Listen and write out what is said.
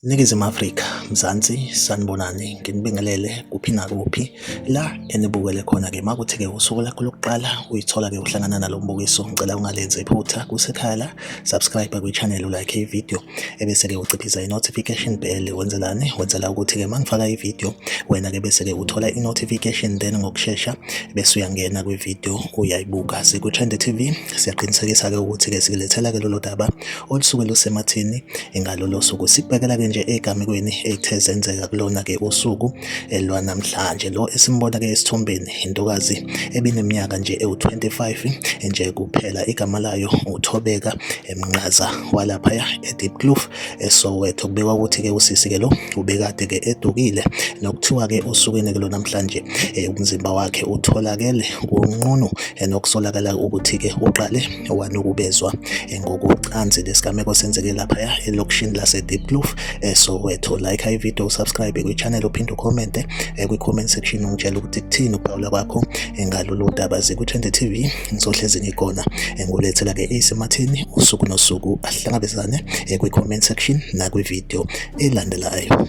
Ningizimu Afrika, Mzansi, sanibonani, nginibingelele kuphi nakuphi la enibukele khona-ke uma kuthi-ke usuku lakho lokuqala uyithola-ke uhlangana nalo mbukiso ngicela ungalenzi iphutha kusekhaya la subscribe kwi-channel ulike ividiyo ebese-ke uciphisa i-notification bell wenzelani wenzela ukuthi-ke uma ngifaka i-video wena-ke bese-ke uthola i-notification then ngokushesha bese uyangena kwi-video uyayibuka siku-trend tv siyaqinisekisa-ke ukuthi-ke sikulethela-ke lolo daba olusuke lusemathini ngalolo suku sikubekela-ke nje egamekweni ethe zenzeka kulona-ke usuku lwanamhlanje lo esimbona-ke esithombeni intokazi ebineminyaka nje ewu-25 nje kuphela igama layo uthobeka emnqaza walaphaya edeep kloof esowetho kubikwa ukuthi-ke usisi-ke lo ubekade-ke edukile nokuthiwa-ke osukwini-ke lo namhlanje um umzimba wakhe utholakele kunqunu nokusolakala ukuthi-ke uqale wanukubezwa ngokocansi lesigameko senzeke laphaya elokishini lasedeep kloof esowetho like high video usubscribe kwi-channel uphinde ukhomente kwi-comment section ungitshela ukuthi kuthini ukuphawula kwakho ngalolu daba ziku-20 tv ngizohlezi ngikhona engulethela ke isematheni usuku nosuku ahlangabezane eh, kwi comment section nakwi video elandelayo